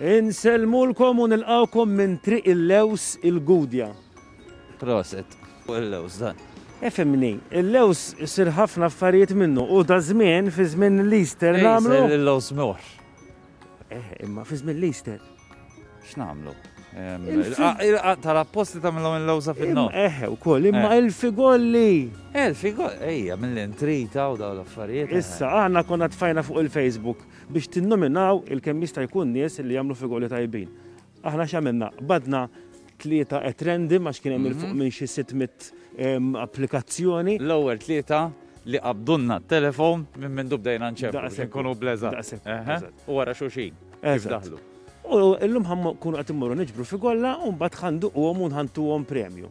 Insellmulkom u nilqgħukom minn Triq il-Lewż il-Gudja. Proset. Fuq il-lewż dan. Ifhimni, il-lewż isir ħafna affarijiet minnu u daż-żmien fi żmien l-Easter nagħmlu. Isir il-lewż mewħ. Eh, imma fi żmien l-Easter. X'nagħmlu? Il-qaq tal-apposti tagħmilhom il-lewża fin-nofs. Eh, ukoll, imma eh. il-figolli. Eh, il-figolli, ejja, mill-intrita u dawn l-affarijiet. Eh. Issa, aħna konna tfajna fuq il-Facebook. biex tinnominaw il-kemm jista' jkun nies li jagħmlu figuri tajbin. Aħna x'għamilna? Qbadna tlieta at random għax kien hemm 'il fuq minn xi sitt mitt applikazzjoni. L-ewwel tlieta li qabdulna t-telefon minn mindu bdejna nċemplu biex inkunu bl-eżatt. Daqshekk. Eħe. Eżatt. U wara xulxin kif daħlu. U llum ħa nkunu qed immorru niġbru figolla u mbagħad ħa nduquhom u nħantuhom premju.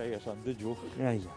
Ejja, sandiġu. Ejja.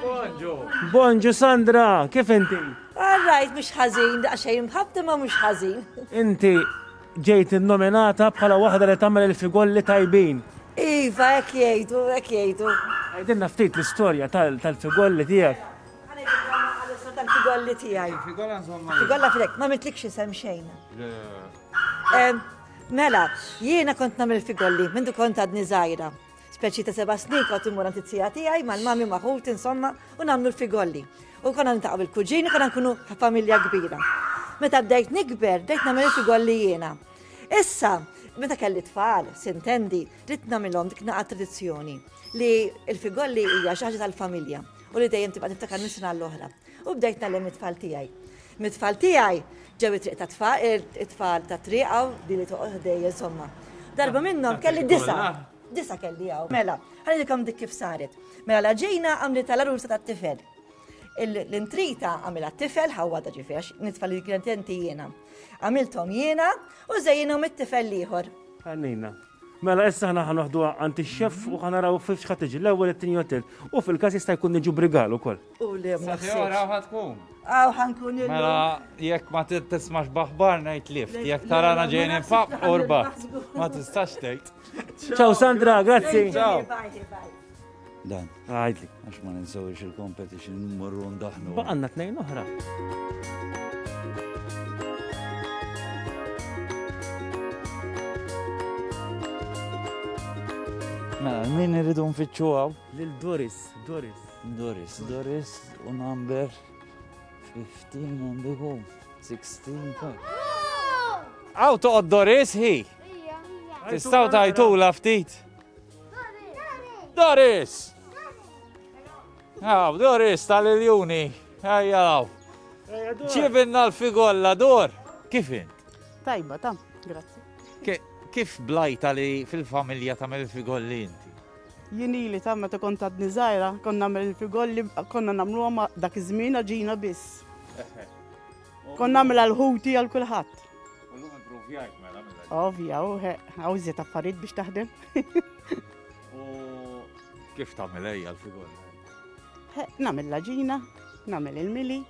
Bonġu. Bonġu Sandra, kif inti? Għarrajt mux ħazin, daqxej mħabti ma mux ħazin. Inti ġejt nominata bħala waħda li tagħmel il-figolli tajbin. Iva, ek jgħidu, ek jgħidu. Għajdinna ftit l-istorja tal-figolli tiegħek. Figolli tiegħi. Figolla fidek, ma mitlikx isem xejn. Mela, jiena kont nagħmel figolli mindu kont għadni żgħira. Speċi ta' seba' snin kont immur għand it-tija tiegħi mal-mami u ma' ħuti insomma u nagħmlu l-figolli. U konna niltaqgħu bil-kuġini konna nkunu familja kbira. Meta bdejt nikber, bdejt nagħmel il-figolli jiena. Issa, meta kelli tfal, sintendi, ridt nagħmilhom dik naqa' tradizzjoni li l-figolli hija xi ħaġa tal-familja u li dejjem tibqa' tiftakar minn sena għall-oħra. U bdejt tgħallem it-tfal tiegħi. Mit-tfal tiegħi ġew it-triq ta' tfal, it-tfal ta' triq hawn li li toqgħod ħdej insomma. Darba minnhom kelli disa. Disa kelli hawn. Mela, ħallikom dik kif saret. Mela la ġejna għamli tal-arursa tat-tifel. L-intrita għamilha t-tifel ħawada ġifiex, nitfal li kienet jiena. Għamilthom jiena u żejjinhom it-tifel l-ieħor. Għannina. Mela issa ħana ħanoħdu għanti xef u ħanaraw fifx ħatiġi l-ewwel it-tieni hotel u fil-każ jista' jkun niġu brigal ukoll. U li ma Sahjora ħad tkun. Aw ħankun il Mela, jekk ma tismax baħbar ngħid lift, jekk tarana ġejn infaq urba. Ma tistax tgħid. Ciao Sandra, grazzi. Ciao. Dan, għajdli, għax ma ninsawiex il-competition morru ndaħnu. Baqanna tnejn oħra. Mela, min irridu nfittxu għaw? Lil Doris, Doris. Doris, Doris, u number 15 għandu hu 16 ta. Għaw toqgħod Doris hi. Tistgħu tajtula ftit. Doris! Għaw, Doris tal-iljuni. Ejja għaw. Ġibinna l-figolla, dor. Kif int? Tajba, tam, grazzi. Kif blajta li fil-familja ta' mill-figolli inti? Jien ili ta' meta kont għadni żgħira, konna nagħmel il-figolli, konna nagħmluhom dak iż-żmien ġina biss. Konna nagħmel għal-ħuti għal kulħadd. Ovvja, u għawżiet affarijiet biex taħdem. U kif tagħmel ejja l-figolli? Nagħmel laġina, nagħmel il-mili,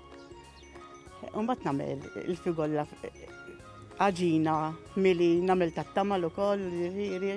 u mbagħad nagħmel il-figolla għaġina, mili, nagħmel tat-tamal ukoll, ġifieri.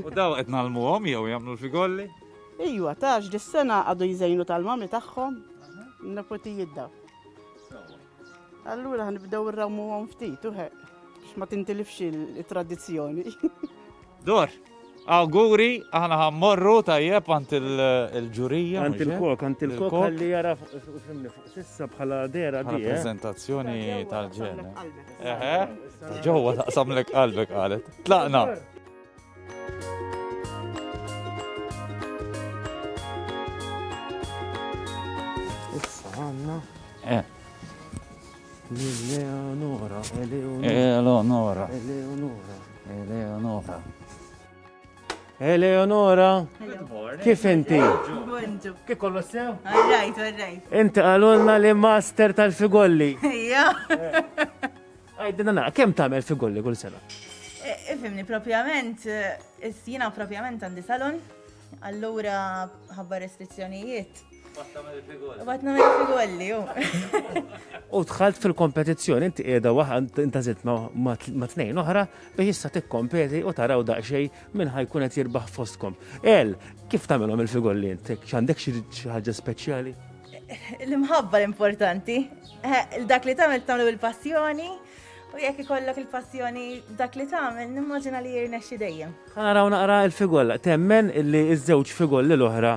U daw qed nagħlmuhom jew jagħmlu l-figolli? Ijwa, tax dis-sena għadu jżejnu tal-mami tagħhom, nepotijiet daw. Allura ħanibdew irrawmuhom ftit, uħe, x'ma tintilifx il-tradizzjoni. Dor, auguri, aħna ħammorru tajjeb għant il-ġurija. Għant il-kok, għant il-kok li jara fimni fuq Issa bħala dera di. Prezentazzjoni tal-ġen. Eħe. Ġewwa taqsamlek qalbek qalet. Tlaqna. Issa għanna. Eh. Eleonora, Eleonora. Eleonora. Eleonora. Eleonora. Eleonora, kif inti? Kif kollu sew? Għarrajt, għarrajt. Inti għalulna li master tal-figolli. Ija. Għajdina na, kem tamel figolli kull sena? Ifimni, e, propjament, e, jina propjament għandi salon, allura ħabba restrizzjonijiet Bat namel figolli, ju. U tħalt fil-kompetizzjoni, inti qiegħda waħda inta zitt ma' tnejn oħra biex issa tikkompeti u taraw daqsxejn minn ħajkun qed jirbaħ fostkom. El, kif tagħmilhom il-figolli inti? X'għandek xi ħaġa speċjali? L-imħabba l-importanti. Eh, dak li tagħmel tagħmlu il-passjoni. U jekk ikollok il-passjoni dak li tagħmel, nimmaġina li jirnexxi dejjem. Naraw naqra il-figolla, temmen li ż-żewġ figolli l-oħra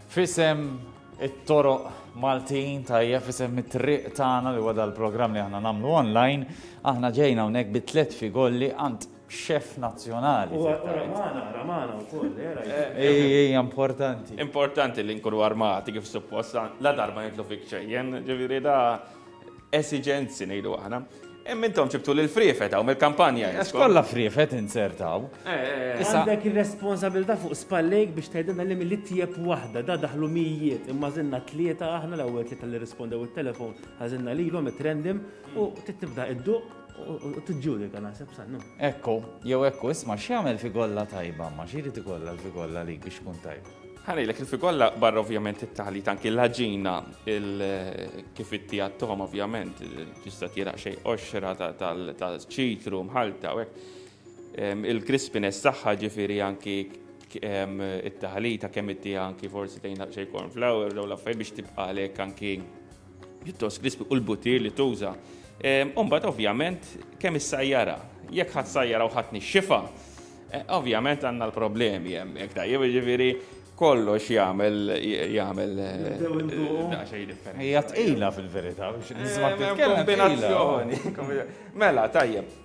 F'isem it-toroq Maltin tajjeb f'isem it-triq tagħna li huwa dal-programm li aħna nagħmlu online, aħna ġejna hawnhekk bi tliet figolli għand xef nazzjonali. U ramana, ramana u koll, era. Eh, Ej, eh, eh, importanti. Importanti li nkunu armati kif supposta, la darba nitlu fik ċejjen, ġiviri da Esiġenzi ngħidu aħna. Imma intom ġibtu lil friefet hawn mill-kampanja. Għax kollha friefet insertaw. Eh, eh, eh. Għandek ir-responsabilità fuq spallejk biex tgħidilna li mill tieb waħda da daħlu mijiet imma żinna tlieta aħna l-ewwel tlieta li rispondew it-telefon ħażinna lilhom it-trendim u tibda id-duq u tiġġudika naħseb sannu. Ekku, jew ekku, isma' x'jagħmel figolla tajba, ma xiri tikolla l-figolla li biex kun tajba. Ħa ngħidlek il-fi kollha barra ovvjament it-taħlit anki l-ħaġina kif itti għattom ovvjament tista' tiraq xejn qoxra tal-ċitru mħalta u hekk. Il-crispiness tagħha ġifieri anki it-taħlita kemm itti anki forsi tgħinha xejn cornflower jew l-affarijiet biex tibqa' għalhekk anki pjuttost krispi u l-butir li tuża. Umbat ovvjament kemm is-sajjara, jekk ħadd sajjara u ħadd nixxifa, e, ovvjament għandna l-problemi hemmhekk tajjeb, jiġifieri kollox jagħmel jagħmel Hija tqila fil-verità biex nisma' kombinazzjoni. Mela tajjeb.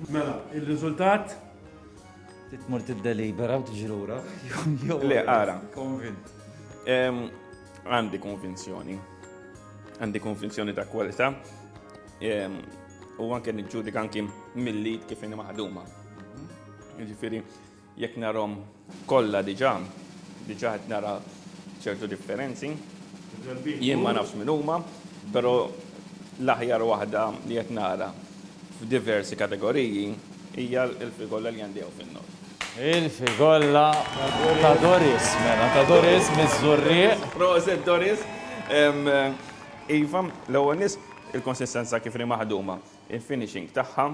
Mela, il-riżultat titmur tiddelibera u tiġi lura. Le, ara. Konvint. Għandi konvinzjoni. Għandi konvinzjoni ta' kwalità ehm, u anke niġġudika anki mill-lid kif inhi maħduma. Jiġifieri jekk narhom kollha diġà, diġà qed nara ċertu differenzi. Jien ma nafx minn huma, però l-aħjar waħda li qed nara. f'diversi kategoriji hija l-Frigolla li għandi hawn fin-nofs. Il-Frigolla ta' Doris, mela, ta' Doris miż-Żurrieq. Proset Doris! Iva, l-ewwel nett il-konsistenza kif inhi maħduma, il-finishing tagħha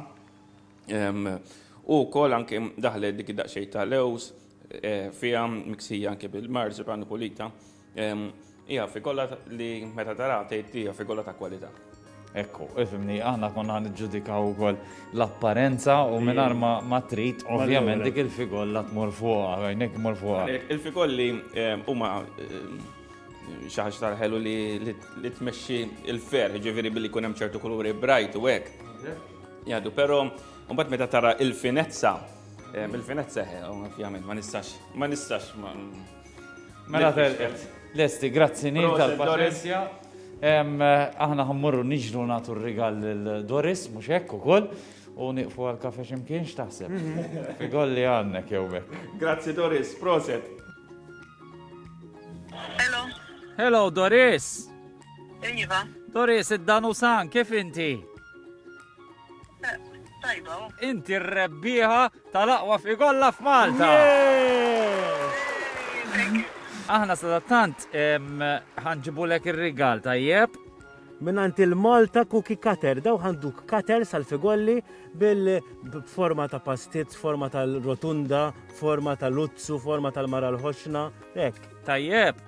u wkoll anke daħlet dik daqsxejn ta' lewż fiha miksija anke bil-marzipan u pulita. Hija fikolla li meta taraha tgħid hija fikolla ta' kwalità. Ekku, ifimni, aħna konna niġġudikaw ukoll l-apparenza u mingħajr ma trid, ovvjament dik il-figolla tmur fuqha, għajnek tmur fuqha. Il-fikolli eh, huma eh, xi ħaġa tal-ħelu li tmexxi il-fer, ġifieri billi jkun hemm ċertu kuluri bright u hekk. Jadu, però mbagħad meta tara il-finezza, eh, il-finezza ovvjament ma nistax, ma nistax Mela telqet. Lesti, grazzi nil tal-paċenzja. Aħna ħammurru niġru natu r-rigal l-Doris, mux hekk u koll, u niqfu għal-kafe ximkien xtaħseb. Mhm. Figol li għannek jew mek. Grazzi Doris, proset. Hello. Hello Doris. Iva. Doris, id-danu san, kif inti? Eh, tajba. Oh. Inti r-rebbiħa Tal-aqwa fqi kollha f'Malta! Aħna sadattant ħanġibulek ir-rigal tajjeb. Minant il-Malta Cookie Cutter, daw ħanduk cutter sal-figolli bil-forma ta' pastiz, forma tal-rotunda, forma tal-uzzu, forma tal-mara l-ħoxna, ek. Tajjeb.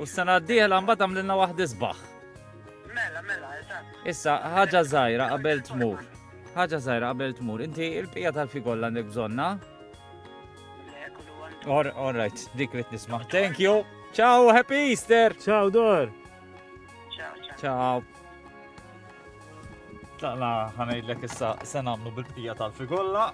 U s-sena d-dieħla mbagħad għamlilna waħd isbaħ. Mela, mela, eżatt. Issa, ħaġa żgħira qabel tmur. Ħaġa żgħira qabel tmur, inti il-bqija tal-fi kollha għandek bżonna? Or, all right, dik li nisma. Thank you. Ciao, happy Easter. Ciao, Dor. Ciao, ciao. Ciao. Tlaqna ħanajdlek issa se nagħmlu bil-bqija tal-fi kollha.